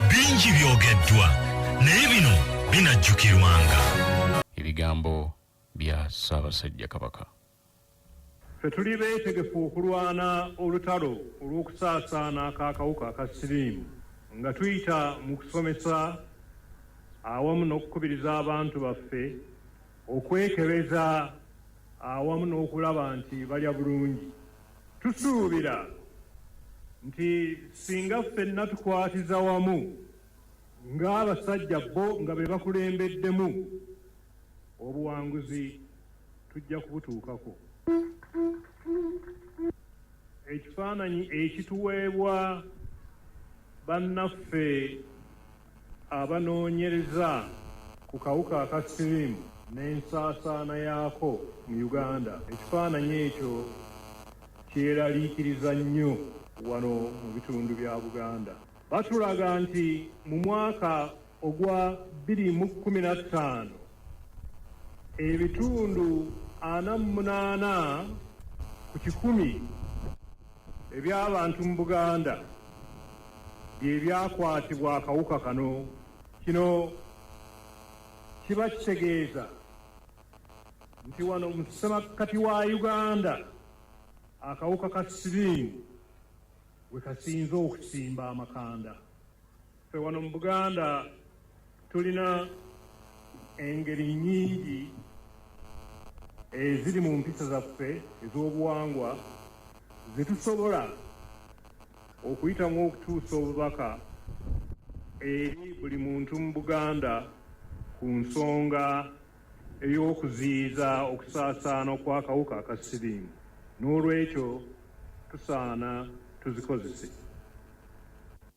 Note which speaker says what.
Speaker 1: Bingi byogeddwa naye bino binajjukirwanga. Ebigambo
Speaker 2: bya Ssaabasajja Kabaka.
Speaker 3: Ffe tuli beetegefu okulwana olutalo olw'okusaasaana k'akawuka aka siriimu nga tuyita mu kusomesa awamu n'okukubiriza abantu baffe okwekebeza awamu n'okulaba nti balya bulungi. Tusuubira nti singa ffenna tukwatiza wamu ng'abasajja bo nga be bakulembeddemu, obuwanguzi tujja kubutuukako. Ekifaananyi ekituweebwa bannaffe Abanoonyereza ku kawuka aka siriimu n'ensaasaana yaako mu Uganda, ekifaananyi ekyo kyeraliikiriza nnyo wano mu bitundu bya Buganda. Batulaga nti mu mwaka ogwa bbiri mu kkumi na ttaano, Ebitundu ana mu munaana ku kikumi eby'abantu mu Buganda bye byakwatibwa akawuka kano. Kino kiba kitegeeza nti wano mu ssemakkati wa Uganda akawuka ka siriimu we kasinze okusimba amakanda. Ffe wano mu Buganda tulina engeri nnyingi eziri mu mpisa zaffe ez'obuwangwa ze tusobola okuyitamu okutuusa obubaka eri buli muntu mu Buganda ku nsonga ey'okuziyiza okusaasaana okw'akawuka aka siriimu n'olwekyo tusaana tuzikozese.